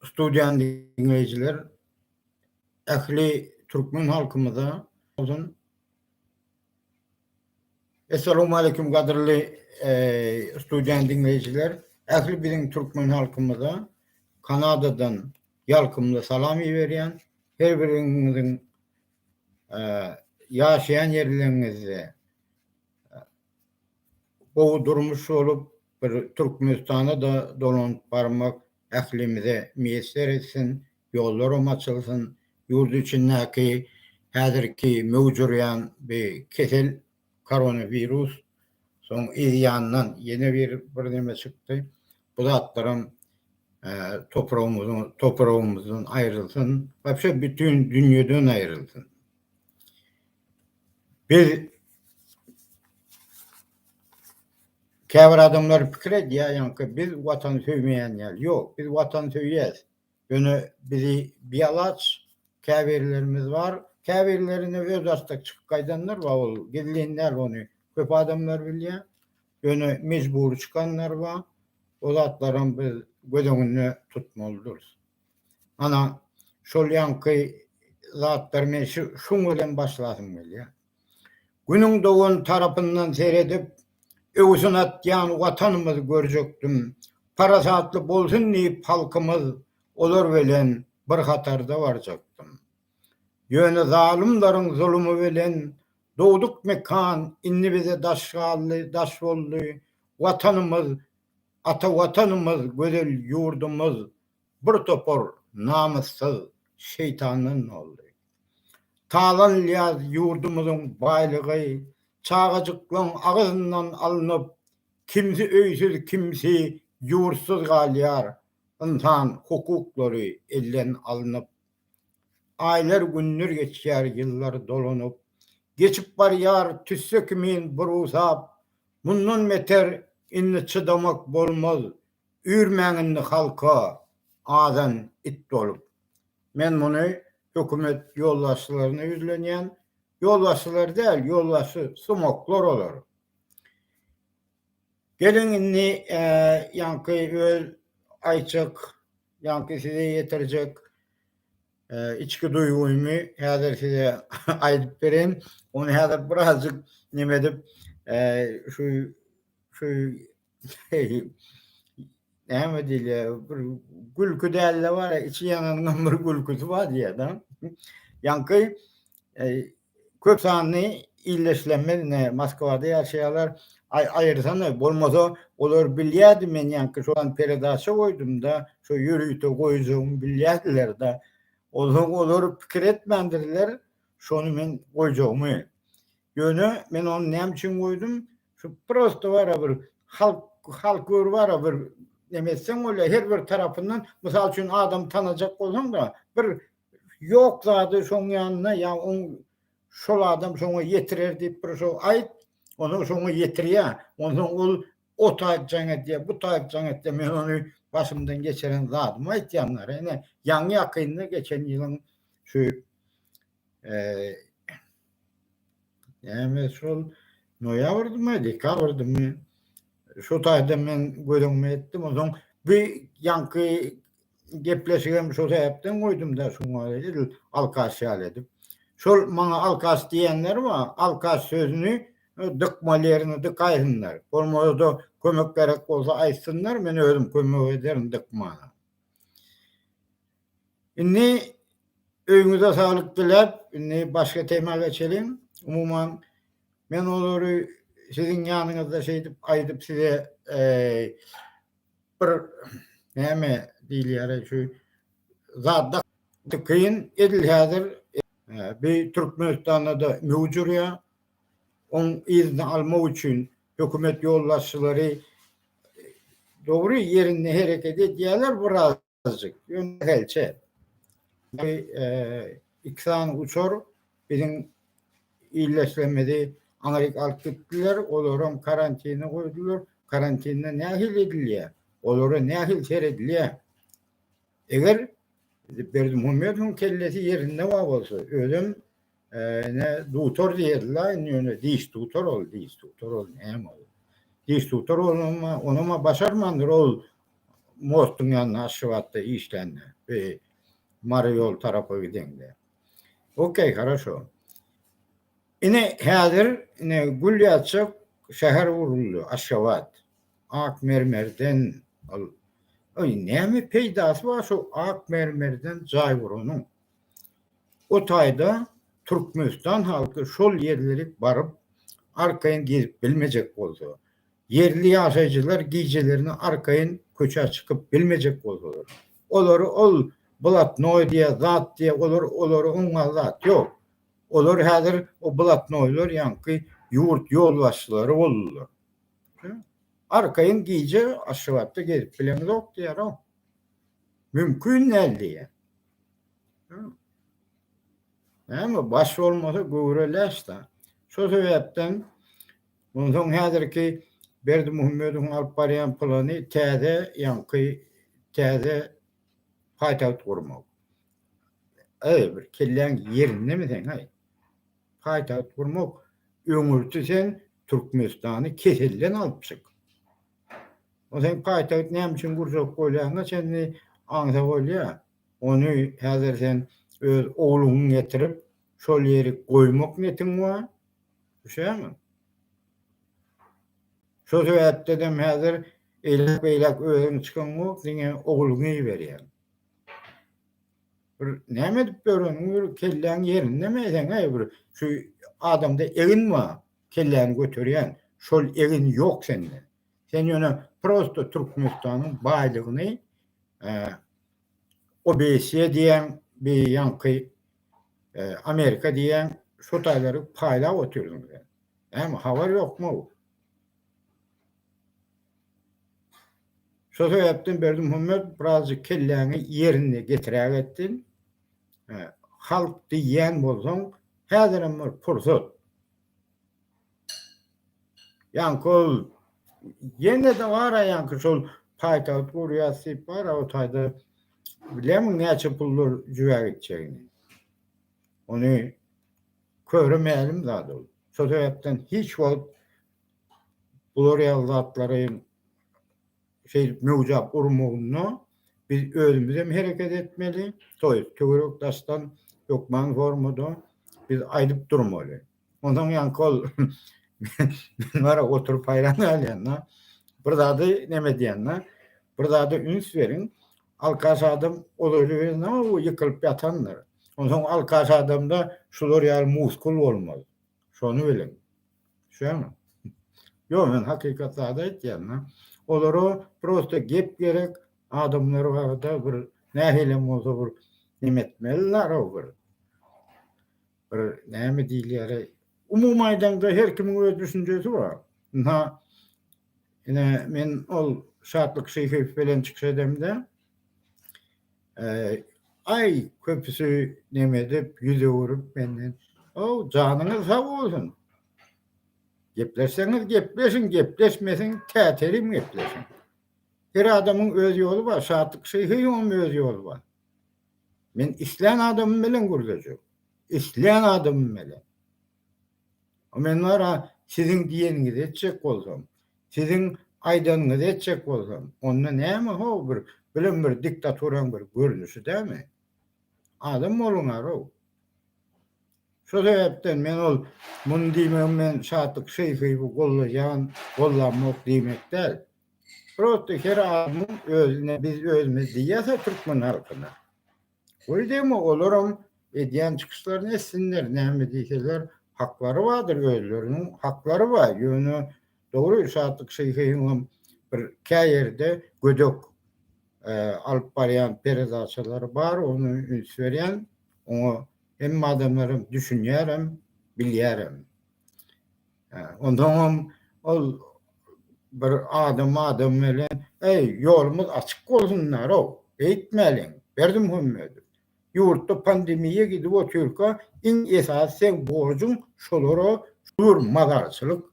Studiýany diňleýjiler ähli türkmen halkymyza bolsun. Essalamu aleýkum gadyrly studiýany diňleýjiler. Ähli biziň türkmen halkymyza Kanadadan ýalkymly salam iberýän. Her biriňiziň ýaşaýan ýerleriňizde gowy durmuş bolup, bir Türkmenistana-da dolanyp barmak ählimize miýesser etsin, ýollaram açylsyn, ýurt içindäki häzirki möwç urýan bi kesel koronawirus, soň yzýandan ýene bir birneme çykdy, bu zatlaram topragymyzdan aýrylsyn, wapşe bütin dünýeden aýrylsyn. Biz Käbir adamlar pikir edýär, ýaňky biz Watan söýmeýän ýaly. Ýok, biz Watan söýýäs. Ýöne bizi bialaç käbirlerimiz bar. Käbirleri ine öz artda çykyp gaýdanlar bar, ol gizlin däl, ony köp adamlar bilýär. Ýöne mejbury çykanlar bar. O zatlaram biz göz öňünde tutmalydyrys. Ana, şol ýaňky zatlar men şuň bilen başlasym gelýär. Günüň dogan tarapyndan seredip, öwsün atýan Watanymyzy görjekdim. Parasatly bolsun diýip halkymyz, olar bilen bir hatarda barjakdym. Ýöne zalymlaryň zulumy bilen dogduk mekan indi bize daş galdy, daş boldy. Watanymyz, ata Watanymyz, gözel ýurdumyz bir topar namyssyz şeýtandan boldy. Talanlyýaz ýurdumyzyň baýlygy çagajyklaň agyzyndan alnyp, kimsi öýsüz kimsi ýurtsyz galýar, ynsan hukuklary elden alnyp. Aýlar günler geçýär ýyllar dolanyp, geçip barýar tüsse kimin burusap, mundan beter indi çydamak bolmaz, Üýrmäň indi halka azan it bolup. Men muny hökümet ýolbaşçylaryna ýüzlenýän, ýolbaşçylar däl ýolbaşçy sumoklar olar. Geliň indi ýaňky öz aýtjak ýaňky size ýetirjek içki duýgymy häzir size aýdyp bereýin. Ony häzir birazjyk neme edip şu şu Näme diýilýär? Bir gülki dälde bar, içi ýanyňdan bir gülküsi bar diýýärdi. Ýaňky e, köp sanly illeşlenme ne Moskwada ýaşaýarlar. Ay aýyrsana bolmasa olar bilýärdi men ýaňky şu an peredaça goýdumda, şu ýörite goýjagymy bilýärdiler-de. Olar olar pikir etmändirler, şony men goýjagymy. Ýöne men ony näme üçin goýdum? Şu prosto bara bir halk halk gör bara bir neme etseň bolýar her bir tarapyndan mysal üçin adam tanajak bolsaň da bir ýok zady şoň ýanyna ýa oň şol adam şoňa ýetirer diýip bir şo aýt onu şoňa ýetirýär onsoň ol o taýjaň edýär bu taýjaň etdi men ony başymdan geçiren zadymy aýtýan ýaňy ýakynda geçen ýylyň şu Näme şol noýabrdymy, dekabrdymy? Şu taýda men göz öňüme etdim. Onsoň bu ýaňky gepleşigem şo sebäpden goýdum-da, şoňa edil alkaş ýaly edip. Şol maňa alkaş diýenler bar, alkaş sözüni dykmaly ýerine dykaýsynlar. Bolmasa-da kömek gerek bolsa aýtsynlar, men özüm kömek ederin dykmana. Indi öýüňize saglyk diläp, indi başga tema geçeliň. Umuman, men olary siziň ýanyňyzda şeýdip aýdyp size bir näme diýilýär şu zada kyn edil häzir bi Türkmenistanda-da möwüj urýar. Oň yzyny almak üçin hökümet ýolbaşçylary dogry ýerinde hereket edýärler biraz. azjyk. Ýöne hälçe. Bu e, iki sany uçar biziň illeşlemedi Amerika alyp gitdiler, olaram karantine goýdular. Karantinde nähili edilýär? Olara nähili seredilýär? Eger Berdimuhamedowyň kellesi ýerinde bar bolsa, özüm ne dutor diýerler indi ýöne diş dutor ol diş dutor ol näme ol diş dutor onama onama başarmandyr ol mostuň ýanyna aşgabatda işlände we mary ýol tarapa gidende okey хорошо ine häzir ine gül ýaçak şäher guruldy aşgabat ak mermerden ol oý näme peýdasy bar şu ak mermerden jaý guranyň O taýda Türkmenistan halky şol ýerleri baryp, arkaýyn gezip bilmejek bolsa, ýerli ýaşaýjylar gijelerine arkaýyn köçä çykyp bilmejek bolsalar, olary ol blatnoý diýýä, zat diýýä, olar olary oňňan zat ýok. Olar häzir o blatnoýlar ýaňky ýurt ýolbaşçylary boldular. Arkaýyn gije Aşgabatda gezip bileňzok diýýär-ow. Mümkin däl diýýär. Näme baş bolmasa göwre läş-dä. Şo sebäpden onsoň häzirki Berdimuhamedowyň alyp barýan plany täze ýaňky täze paýtagt gurmak. Eý, bir kelläň ýerindemi seň-aý? Paýtagt gurmak, öňürti sen Türkmenistany keselden alyp çyk. Ol sen gaýta git näme üçin gurjak bolýaňa çenli aňsa bolýa. Ony häzir sen öz ogluňy getirip şol ýeri goýmak netiň bar. Düşýäňmi? Şo sebäpdedem häzir eýläk beýläk özüň çykyňok diňe ogluňy iberýäň. Bir näme edip ýöreniň bir kelläň ýerindemi seň-ä bir şu adamda egin bar. kelläni göterýän şol egin ýok sende. Sen ýöne prosto Türkmenistanyň baýlygyny OBSE diýýäň, bir ýaňky Amerika diýýäň şo taýlary paýlap otyrsyň sen. Näme habar ýokmyw? Şo sebäpden Berdimuhammet birazjyk kelläňi ýerinde getirägetdiň. Halk diýýän bolsaň, häzirem bir pursat. Ýaňky ol ýene-de bar-a ýaňky şol paýtagt gurýas diýip bar-a o taýda bilýärmiň näçe pullar jübä gitjegini? Ony köre mälim zat ol. Şo sebäpden hiç wagt bular ýaly zatlary şeýdip möwjap urmagynda biz özümiz hem hereket etmeli, to ýest töwerek daşdan hökman formada biz aýdyp durmaly. Onsoň ýaňky ol men bara oturyp haýran galýan-da, bir zady neme edýän-de, bir zada üns beriň, alkaş adam ol öli bilen name bu ýykylyp ýatandyr. Onsoň alkaş adamda şular ýaly muskul bolmaz. Şony biliň. Şuňa. Ýok, men hakykat zady aýtýan-da. Olara prosta gep gerek, adamlar barada bir nähilem bolsa bir neme etmeliler-ow bir. Bir näme diýilýär-eý? Umumy aýdaňda her kimiň öz düşünjesi bar. Ynha, ine, men ol Şatlyk Şyhyýew bilen çykyş edemde, Eee, aý, köpüsi neme edip, ýüz öwürip menden, How, janyňyz sag bolsun! Gepleşseňiz gepleşiň, gepleşmeseň tätelim gepleşiň. Her adamyň öz ýoly bar, Şatlyk Şyhyýowyň öz ýoly bar. Men islän adamym bilen gürleşerin. Islän adamym bilen. Men bar-a siziň diýeniňizi etjek bolsam, siziň aýdanyňyzy etjek bolsam, onda näme how bir bilen bir diktaturaň bir görnüşi dämi? Adam boluňar-ow! Şo sebäpden men ol muny diýmegim men Şatlyk Şeýhiowy gollaýan, gollamok diýmek däl. Prosta her adamyň özüne biz özümiz diýýäs-ä türkmen halkyna. Goý degme olaram edýän çykyşlaryny etsinler näme diýseler haklary bardyr özleriniň haklary bar ýöne dogry Şatlyk Şeýhewem bir käýerde gödek alyp barýan peredaçalary bar ony üns berýän oňa hemme adamlaram düşünýärem bilýärem. Onsoňam ol bir adam adam bilen, Eý, ýolumyz açyk bolsunlar-ow, beýtmäliň, Berdimuhamedow. Ýurtda pandemiýa gidip otyrka, iň esasy seň borjuň şolara jubur mazarçylyk.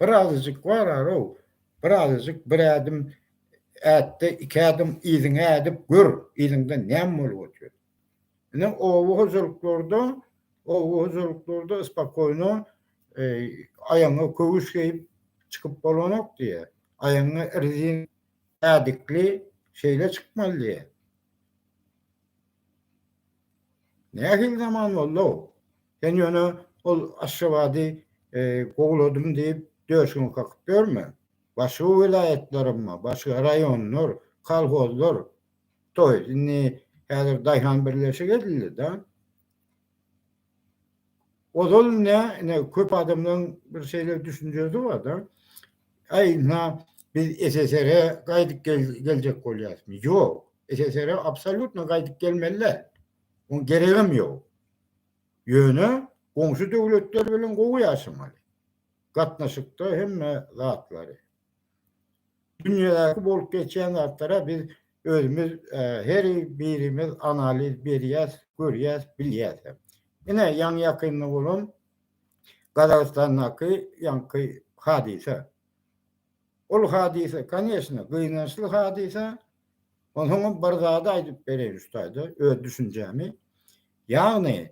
Bir azajyk barar-ow, bir azajyk bir ädim ätde, iki ädim yzyňa ädip gör, yzyňda näme bolup otyr. Ine, oba hojalyklarda, oba hojalyklarda spakoýno aýagyňa köwüş geýip çykyp bolanok diýýä. Aýagyňa rezin ädikli şeýle çykmaly diýýä. Nähili zaman boldy-ow? Sen ýöne ol Aşgabady gowuladym diýip, döşüňi kakyp ýörme. Başga welaýatlarymyz, başga raýonlar, kolhozlar Toý, indi häzir daýhan birleşigi edildi-de. Ozal ine, ine köp adamlaryň bir şeýle düşünjesi bar-da, Äý, ynha, biz SSR-e gaýdyp geljek bolýarysmy? Ýok, SSR-e absolýutno gaýdyp gelmeli däl. Oň geregem ýok. Ýöne goňşy döwletler bilen gowy ýaşamaly. Gatnaşykda hemme zatlary. Dünýädäki bolup geçýän zatlara biz özümiz her birimiz analiz berýäs, görýäs, bilýäs hem. Ine ýaňy-ýakynda bolan Gazagystandaky ýaňky hadysa. Ol hadysa, koneçne, gynançly hadysa. Onsoňam bir zady aýdyp bereýin şu taýda öz düşünjämi. Ýagny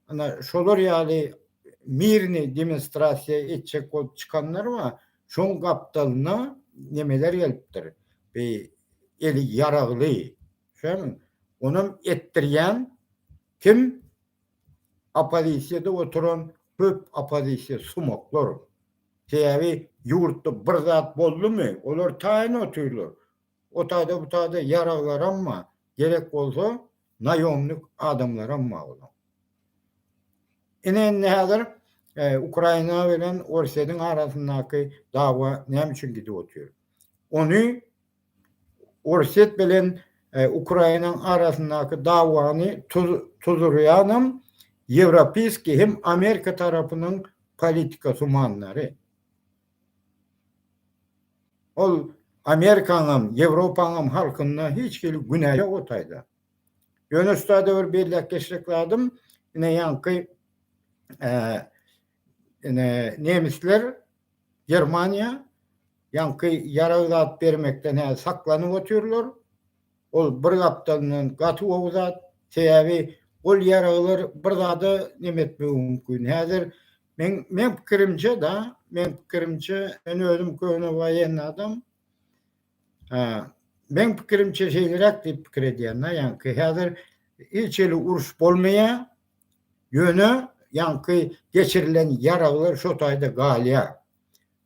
Ana şolar ýaly mirni demonstrasiýa etjek bolup çykanlar bar. Şoň gapdalyna nemeler gelipdir. Bi eli ýaragly. Şämi? Onam etdirýän kim? Oppozisiýada oturan köp oppozisiýa sumaklar. Sebäbi ýurtda bir zat boldumy, olar taýyn otyrlar. O taýda bu taýda ýaraglaram bar, gerek bolsa naýomnik adamlaram bar olaň. Ine indi häzir Ukraina bilen Orsýetiň arasyndaky dawa näme üçin gidip otyr? Ony Orsýet bilen Ukrainaň arasyndaky dawany tuzurýanam ýewropiýskiý hem Amerika tarapynyň politika tumanlary. Ol Amerikanyňam, Ýewropanyňam halkynda hiç hili günä ýok o taýda. Ýöne şutada bir belläp geçjek zadym, ine ýaňky ine nemisler, Germaniýa ýaňky ýarag zat bermekden häzir saklanyp otyrlar. Ol bir gapdalyndan gaty gowy zat. Sebäbi ol ýaraglar bir zada neme etmegi mümkin. Häzir Men men pikirimçe da, men pikirimçe, men özüm köne waýenni adam. Ha, men pikirimçe şeýleräk diýip pikir edýän, ýaňky häzir hiç eli uruş bolmaýar. Ýöne ýaňky geçirilen ýaraglar şo taýda galýar.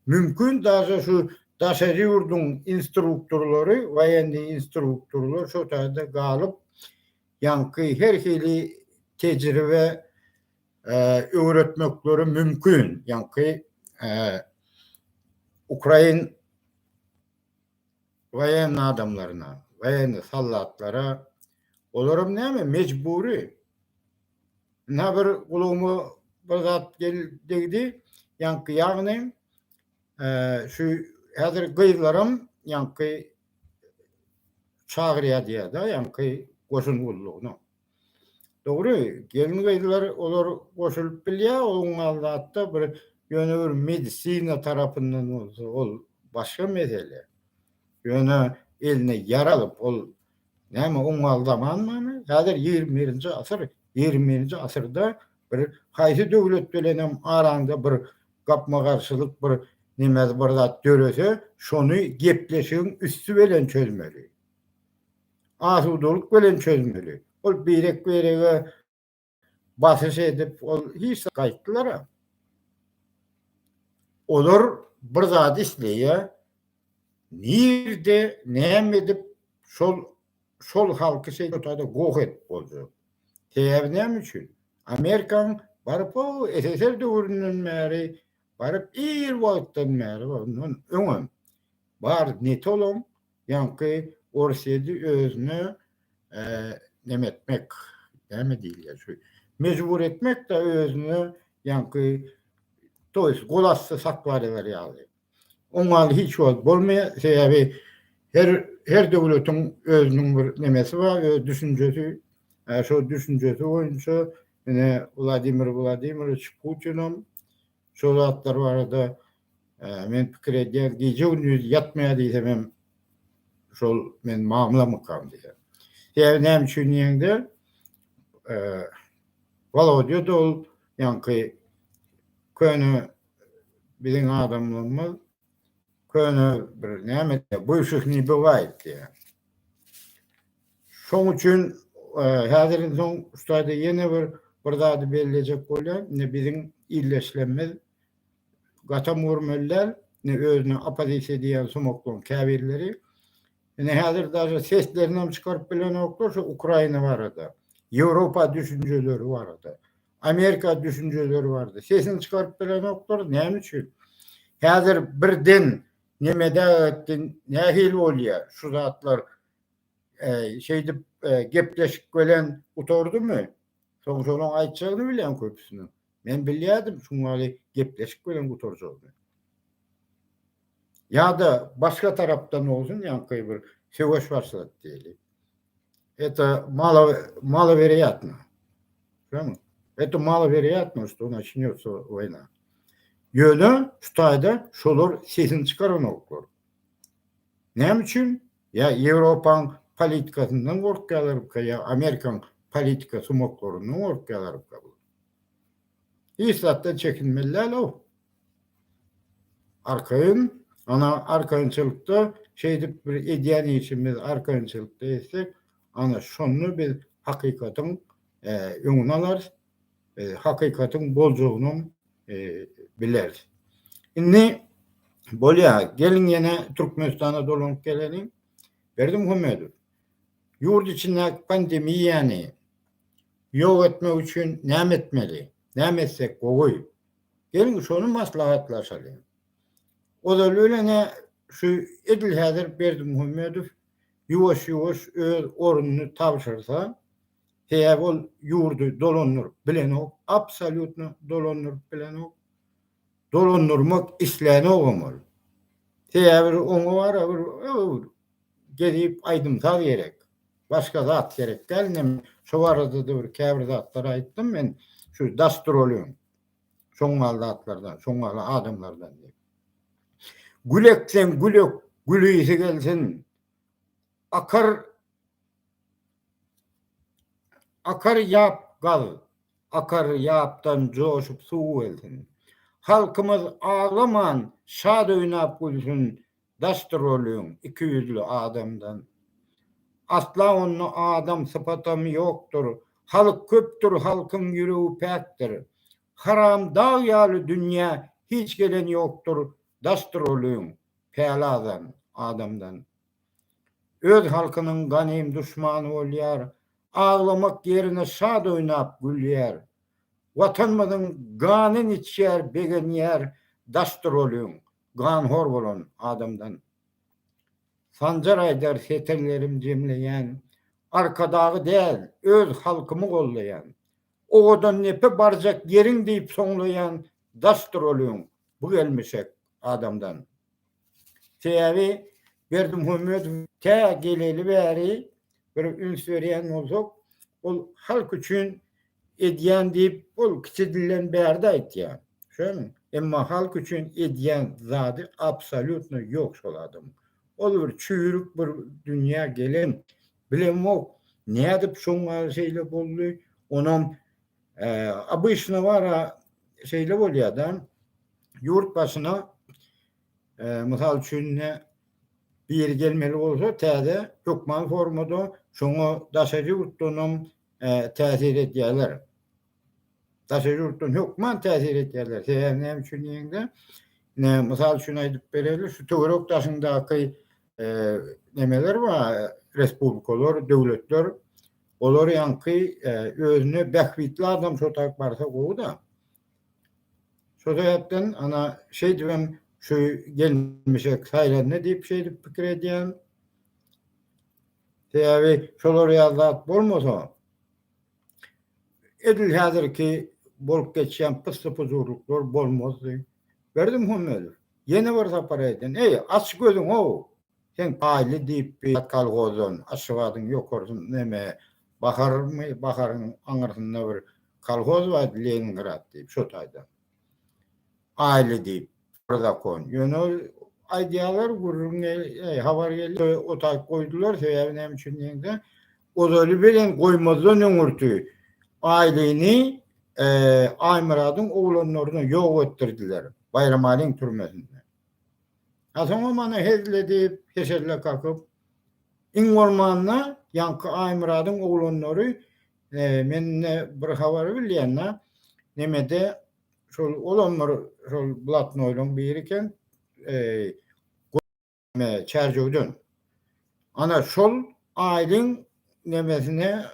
Mümkin daşa şu daşary ýurduň instruktorlary, waýenni instruktorlar şo taýda galyp, ýaňky her hili tejribe öwretmekleri mümkin. Ýaňky ukrain waýenn adamlaryna, waýenn sallatlara olar hem näme mejbury. Ina bir gulagyma bir zat degdi. Ýaňky ýagny şu häzir gyzlaram ýaňky çagyrýar diýýär-de ýaňky goşun gullugyna. Dogry, gelin-gyzlar olar goşulyp bilýär, oň aldatda bir ýöne bir medisina tarapyndan bolsa ol başga mesele. Ýöne eline ýar alyp ol näme oň aldamanmyny? Häzir ýigrimi birinji asyr, ýigrimi birinji asyrda bir haýsy döwlet bilenem araňda bir gapma-garşylyk bir neme bir zat dörese şony gepleşigiň üsti belen çözmeli. asudalyk bilen çözmeli. Ol birek-birege basyş edip, ol hiç zat gaýtdylar-a. Olar bir zat isleýär, nirde, näme edip şol şol halky şeý ortada goh edip boljak. Sebäbi näme üçin? Amerikanyň baryp o SSR döwründen bäri baryp ir wagtdan bäri ondan öňem bar netolom Ýaňky Orsýedi özüne neme etmek, näme diýilýär şu, mejbur etmek-de özüne ýaňky to ýest gol asty saklaryber ýaly. Oňal hiç wagt bolmaýar, sebäbi her her döwletiň özüniň bir nemesi bar, öz düşünjesi, şo düşünjesi boýunça ine Wladimir Wladimirowiç Putinam Şol zatlar barada men pikir edýän, gije gündiz ýatmaýar diýsem hem şol men mamlamykam diýýän. Sebäbi näme üçin diýende, Walodýa da ol ýaňky köne biziň adamlarymyz, köne bir näme diýýär, bywşihniý bywaýt diýýär. Şoň üçin e, häzirden soň şutada ýene bir bir zady bellejek bolýar. Indi biziň illeşlemimiz gatam görmeliler, ne özüne opozisiýa diýen sumaklyň käbirleri. Indi häzir daže seslerini hem çykaryp bilenoklar şu Ukraina barada, Ýewropa düşünjeleri barada. Amerika düşünjeleri bardy. Sesini çykaryp bilenokdyr. Näme üçin? Häzir birden nemede etdi, nähili bolýar şu zatlar? E, şeýdip e, gepleşik bilen gutardymy? Soň şonuň aýtjagyny bilen köpüsini. Men bilýärdim, şuňaly gepleşik bilen gutarjagyny. Ýa-da başga tarapdan bolsun, ýaňky bir söweş başlat diýeli. Eto mala mala berýärmi? Şoňa. Eto mala berýärmi, şu naçinýosa wayna. Ýöne şu taýda şolar sesini çykaranoklar. Näme üçin? Ýa Ýewropaň politikasyndan gorkýarlarka ýa Amerikaň politika sumaklaryndan gorkýarlarka. Hiç zatdan çekinmeli däl o. Arkaýyn, ana, arkaýynçylykda şeýdip bir edýän işimiz arkaýynçylykda etsek, ana, şonda biz hakykatyň öňüni alarys, hakykatyň boljagyny bileris. Indi bolýar, geliň ýene Türkmenistana dolanyp geleliň. Berdimuhamedow, ýurt içindäki pandemiýany ýok etmek üçin näme etmeli? Näme etsek gowy? Geliň şony maslahatlaşalyň. Ozaly bilen-ä şu edil häzir Berdimuhamedow ýuwaş-ýuwaş öz ornuny tabşyrsa, sebäbi ol ýurdy dolandyryp bilenok, absolýutno dolandyryp bilenok, dolandyrmak islänogam ol. Sebäbi oňa barybir Gezip aýdym-saz gerek. Başga zat gerek däl. Indi men şo barada-da bir käbir zatlary aýtdym men şu daş duralýan şoňňal zatlardan, şoňňal adamlardan diýip. Gül ekseň gül ök, gülisi gelsin. Akar Akar ýap gaz, akar ýapdan joşup suw gelsin. Halkymyz aglaman, şat oýnap gülsün, Daşdy roliň iki ýüzli adamdan. Asla onda adam sypatam ýokdur Halk köpdür halkyň ýüregi päkdir Haram dag ýaly dünýä hiç gelen ýokdur Daşdy roliň päli azan adamdan. Öz halkynyň ganym duşmany bolýar Aglamak ýerine şad oýnap gülýär Watanymyzyň ganyn içýär begenýär Daşdy roliň Ganhor bolan adamdan. Sanjar aýdar setirlerim jemleýän, Arkadagy däl, öz halkymy gollaýan, Owadan nepe barjak ýeriň diýip soňlaýan daşdyr ol öň, bu gelmişek adamdan. Sebäbi Berdimuhamedow tä geleli bäri bir üns berýän bolsak, ol halk üçin edýän diýip, ol kiçi dilden bärde aýtýar. Düşüňmi? Emma halk üçin edýän zady absolýutno ýok şol adamyň. Ol bir çüýrük bir dünýä gelen. Bilemok, nädip şoňa şeýle boldy. Onam obyçno bar-a, şeýle bolýar-da, ýurt başyna Mysal üçin ine biri gelmeli bolsa täze hökman formada şoňa daşary ýurtdanam täsir edýärler. Daşary ýurtdan hökman täsir edýärler. Sebäbi näme üçin diýende ine mysal üçin aýdyp bereli şu töwerek daşyňdaky nemeler bar respublikalar, döwletler olar ýaňky özüne bähbitli adam şo tarap barsa gowy-da. Şo sebäpden ana şeýdibem şu gelmişek saýlandy diýip şeýdip pikir edýän. Sebäbi şolar ýaly zat bolmasa edil häzirki bolup geçýän pyssy-pujurlyklar bolmazdy. Berdim Hümmedow, ýene bir sapar aýdýan, eý, aç gözüňow! Sen paýly diýip bir zat kolhozdan, Aşgabadyň ýokarsyn neme, Baharymy, Baharyň aňyrsynda bir kolhoz bar, Leningrad diýip, şo taýdan. Paýly diýip, bir zakon. Ýöne ol aýdýarlar, gürrüň gelýär, habar gelýär, o taýy goýdular, sebäbi näme üçin diýende, ozaly bilen goýmazdan öňürti Paýlyny Aýmyradyň oglanlaryna ýok etdirdiler, Baýramalyň türmesinde. A soň o mana hezil edip, heşelle kakyp, iň bolmanda ýaňky Aýmyradyň oglanlary, e, men indi bir habary bilýän-de, nemede şol olam bir şol blatnoýlaryň biri eken, e, me Çärjewden. Ana şol aýlyň nemesine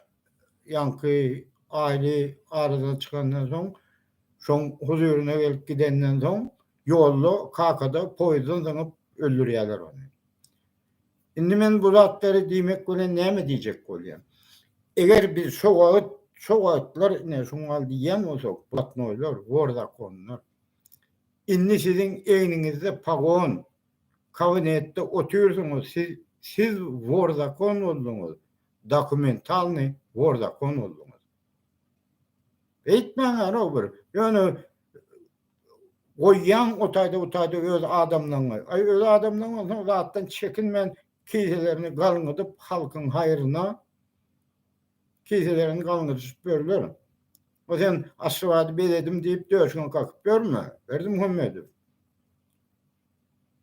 ýaňky aýly aradan çykandan soň, şoň huzuryna gelip gidenden soň, ýolda kakada poýizden zyňyp öldürýärler ony. Indi men bu zatlary diýmek bilen näme diýjek bolýan? Eger biz şo wagt, şo wagtlar ine şuň al diýýän bolsak, blatnoýlar, wor zakonlar. Indi siziň egniňizde pagon, Kabinetde otyrsyňyz siz siz wor zakon bolduňyz dokumentalny wor zakon bolduňyz. Eýtmäň anok bir ýöne goýýaň otayda butayda öz adamlaňňy aý öz adamlaň bolsa zatdan çekinmän kiselerini galňydyp halkyň haýryna kiselerini galňydyşyp ýörler. O sen Aşgabady bezedim diýip döşüňe kakyp ýörme Berdimuhamedow.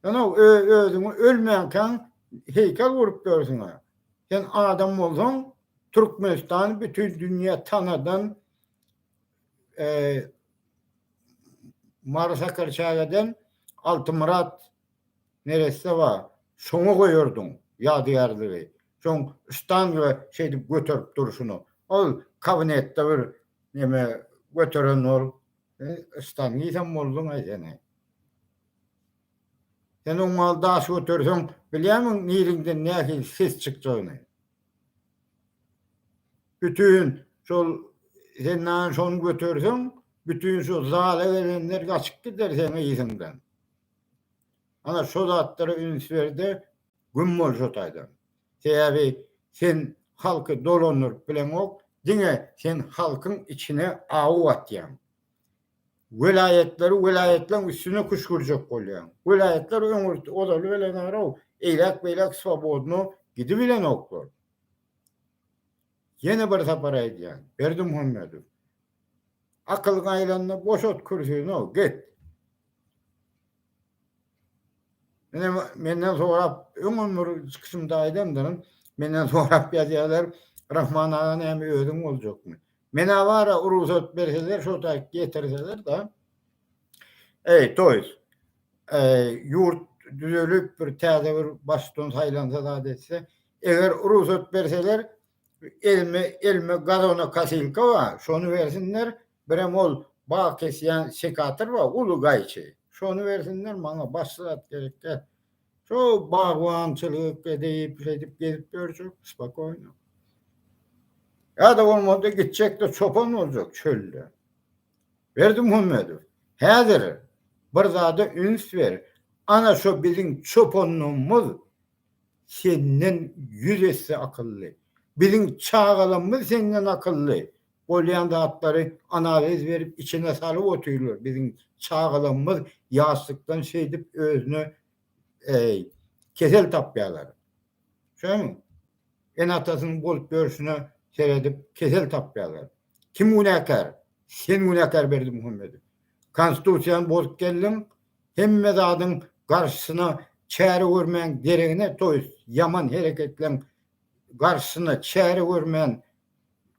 Ýöne-ow, özüňi ölmänkäň heýkel gurup ýörsüň-ä. Sen adam bolsaň, Türkmenistany bütin dünýä tanadan, Mary Sakarçägeden Altymyrat neresse bar, şoňa goýardyň ýadygärligi. Şoň ştanga şeýdip göterip durşuna. Ol kabinetde bir neme göteren ol, Istan diýsem bolduň-aý sen-eý. Sen oňa daş göterseň, bilýärmiň niriňden nähili ses çykjagyny? Bütin şol sen näme şony göterseň, bütin şu zala gelenler gaçyp gider seň yzyňdan. Ana şo zatlara üns ber-de, Güm bol şo taýdan. Sebäbi sen halky dolandyryp bileňok, diňe sen halkyň içine aw atýaň. Welaýatlary welaýatlaryň üstüne küşgürjek bolýaň. Welaýatlar öňe ozaly bilenarow, eýläk-beýläk swobodno gidibilenoklar. Ýene bir sapar aýdýan, Berdimuhamedow, akylyň aýlanda boşat kürsini-ow, git. Menden, menden sorap, öňem bir çykyşymda aýdandyryn, menden sorap ýazýarlar, Rahman aga näme özüň boljakmy? Men-ä bar-a, rugsat berseler, şo taýy getirseler-de, eý, toýs, eý, ýurt düzelip, bir täze bir baştutan saýlansa zat etse, eger rugsat berseler, elime, elime gazonokosýlka bar, şony bersinler, Birem ol bag kesýän sekator bar, uly gaýçy. Şony bersinler maňa, başga zat gerek däl. Şo bagbançylyk edip, şeýdip gezip ýörjek spokoýno. Ýa-da bolmanda gitjek-de çopan boljak çölde. Berdimuhammedow, häzir bir zada üns ber, ana şo biziň çopanlygymyz senden ýüz esse akylly. Biziň çagalarymyz senden akylly. Bolýan zatlary analiz berip içine salyp otyrlar biziň çagalarymyz ýaşlykdan şeýdip özüne eý kesel tapýalar. Şoňmy? Ene atasynyň bolup ýörşüne seredip kesel tapýalar. Kim günäkär? Sen günäkär Berdimuhamedow. Konstitusiýany bozup geldiň hemme zadyň garşysyna çäre görmän geregine toýs ýaman hereketleň garşysyna çäre görmän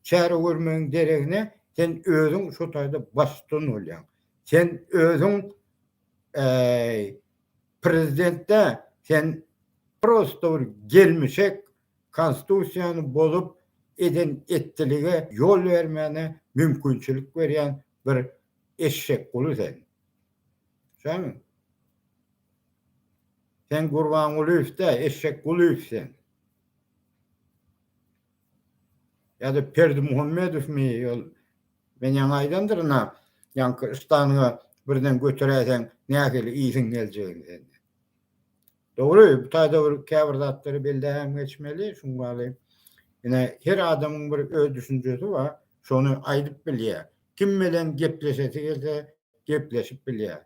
Çäre görmegiň deregine sen özüň şu taýda baştutan bolýaň. Sen özüň prezident däl, sen prosto bir gelmişek, konstitusiýany bozup, eden etdilige ýol bermäne mümkinçilik berýän bir eşekguly sen. Şaňmy? Sen Gurbangulyýew däl, Eşekgulyýew sen. Ýa-da Berdimuhamedowmy ol? Men ýaňy aýdandyryn-a, ýaňky Stanyňa birden göteräýseň nähili iýsiň geljegini sen. Dogry, bu taýda bir käbir zatlary belläbem geçmeli, şuň ýaly. Ine, her adamyň bir öz düşünjesi bar, şony aýdyp bilýär. Kim bilen gepleşesi gelse, gepleşip bilýär.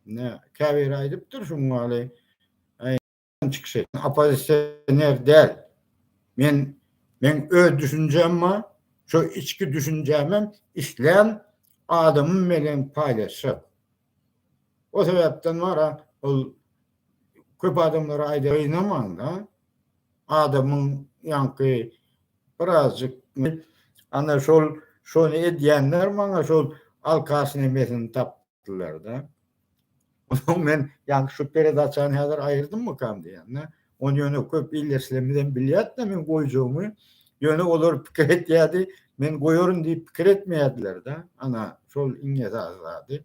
Ine, käbiri aýdypdyr şuň ýaly. Erdogan çykyş etdi. Oppozisioner däl. Men men öz düşünjem bar. Şu içki düşünjämi hem islän adamym bilen paýlaşjak. O sebäpden wara ol köp adamlara aýdar ýynaman da. Adamyň ýaňky birazjyk ana şol şony edýänler maňa şol alkaş nemesini tap. ýatdylar-da. Onuň men ýaňky şu peredaçany häzir aýyrdymmykam diýende, Ony ýöne köp ildeşlerimiz hem bilýärdi-de meň goýjagymy. Ýöne olar pikir etýärdi, men goýaryn diýip pikir etmeýärdiler-de. Ana, şol iň esasy zady.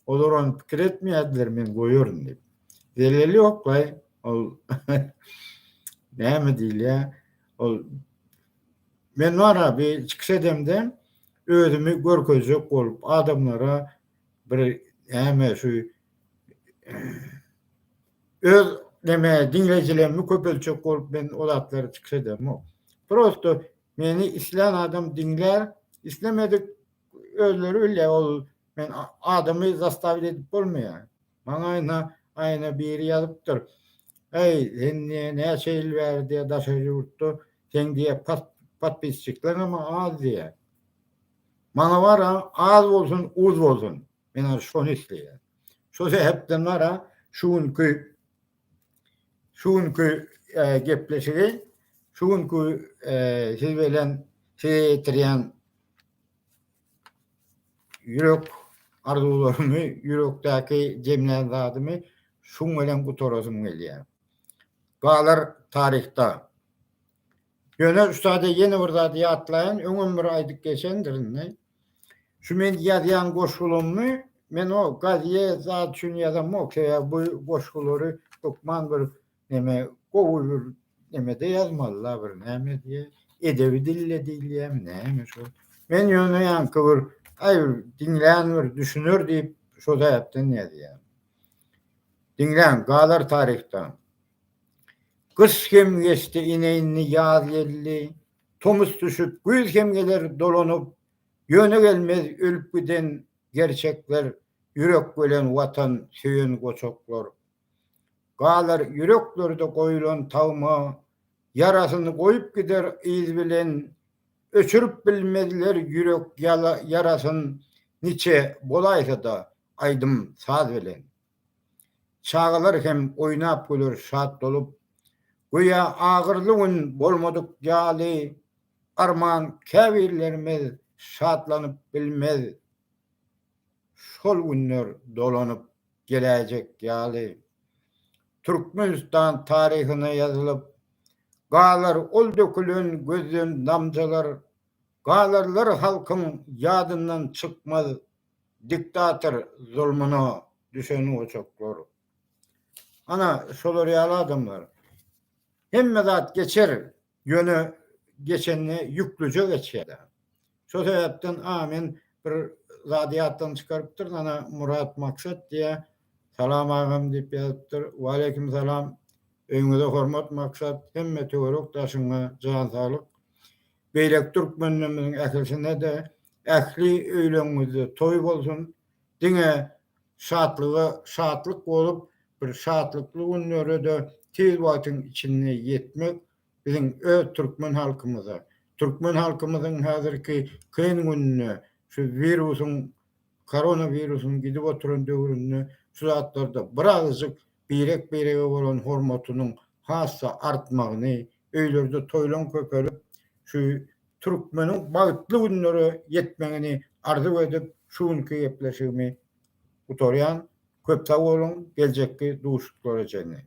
Olar ony pikir etmeýärdiler men goýaryn diýip. Zeleli ýoklaý, ol näme diýilýär, ol men wara bir çykyş edemde, Özümi görkezjek bolup adamlara bir näme şu öz näme diňleýjilerimi köpeltjek bolup men o zatlary çykyş edermok. Prosto meni islän adam diňlär, islemedik özleri bilýär ol men adamy zastawit edip bolmaýar. Maňaýyna aýna biri ýazypdyr. Äý, sen diýe näçe ýyl bäri diýe daşary ýurtda, seň diýe podpisçikleriňem az diýe. Maňa bar-a, az bolsun, uz bolsun. Men ol şony isleýän. Şo sebäpden bar-a, şu günki şu günki gepleşigi, şu günki siz bilen size ýetirýän ýürek arzuwlarymy, ýürekdäki jemlän zadymy şuň bilen gutarasym gelýär. Galar taryhda. Ýöne ussada ýene bir zady ýatlaýyn, öňem bir aýdyp geçendir indi. Şu men ýazýan goşgulymy men o gazýe zat üçin ýazamok, sebäbi bu goşgulary hökman bir Neme gowy bir nemede ýazmaly-la bir näme diýe, edebi dilde diýilýämi, näme şo. Men ýöne ýaňky bir, aý, diňlän bir düşüner diýip, şo sebäpden ýazýan. Diňläň, galar taryhdan. Gyş hem geçdi, ine indi ýaz geldi. Tomus düşüp, güýz hem geler dolanyp, ýöne gelmez ölüp giden gerçekler, ýürek bölen Watan söýen goçaklar, Galar ýüreklerde goýulan tagma, Ýarasyny goýup gider yz bilen. Öçürip bilmezler ýürek ýarasyn, Niçe bolaýsa-da aýdym saz bilen. Çagalar hem oýnap güler şat bolup, Göýä agyrly gün bolmadyk ýaly, Arman käbirlerimiz şatlanyp bilmez Şol günler dolanyp. geläýjek ýaly Türkmenistan taryhyna ýazylyp galar ol dökülen gözden damjalar galarlar halkyň ýadyndan çykmaz diktator zulmuna düşen ojaklar ana şolar ýaly adamlar hemme zat geçer Ýöne geçende ýüklüje geçýärler. Şo sebäpden a men bir zady ýatdan çykarypdyryn ana Murat Maksat diýýä Salam agam diýip ýazypdyr. Waleýkim salam. Öýňüze hormat Maksat hemme töwerek daşyňa jan saglyk. Beýleki türkmenlerimiziň ählisine-de ähli öýleriňizde toý bolsun. Diňe Şatlyga şatlyk bolup, bir şatlykly günlere-de tiz wagtyň içinde ýetmek biziň öz türkmen halkymyza, türkmen halkymyzyň häzirki kyn gününde, şu wirusyň, koronawirusyň gidip oturan döwründe şu zatlarda bir agyzjyk birek-birege bolan hormatynyň has-da artmagyny, öýlerde toýlaryň köpelip, şu türkmeniň bagtly günlere ýetmegini arzuw edip, şu günki gepleşigimi gutarýan. Köp sag boluň, geljekki duşuşyklara çenli!